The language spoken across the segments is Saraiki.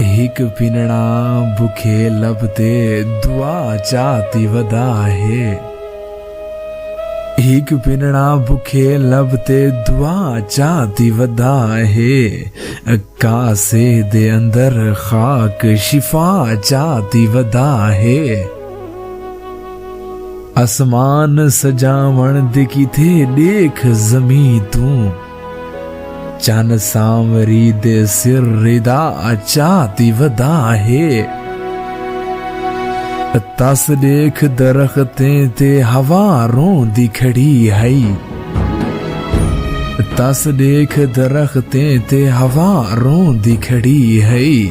ہک پنڑا بکھے لب تے دعا چاتی ودا ہے ہک پنڑا بکھے لب تے دعا چاتی ودا ہے کاسے دے اندر خاک شفا چاتی ودا ہے اسمان سجاون دے کیتے دیکھ زمین توں چن سانوری دے سر ردا اچا دی ودا ہے تس دیکھ درختیں تے ہوا رون دی کھڑی ہائی تس دیکھ درختیں تے ہوا رون دی کھڑی ہائی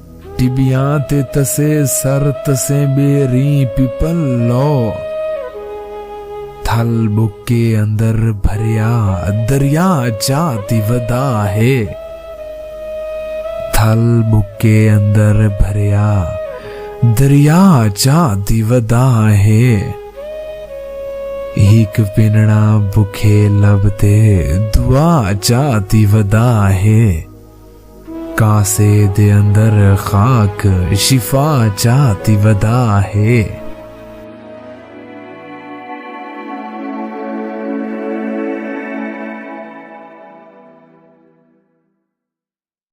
ٹبیاں تے تسے سر تسیں بے ریں پپل لو تھل بکے اندر بھریا دریا چا تی ودا ہے تھل بکے اندر بھریا دریا چا تی ودا ہے ہک پنڑا بکھے لب تے دعا چا تی ودا ہے۔ کاسے دے اندر خاک شفا چاہ تی ودا ہے۔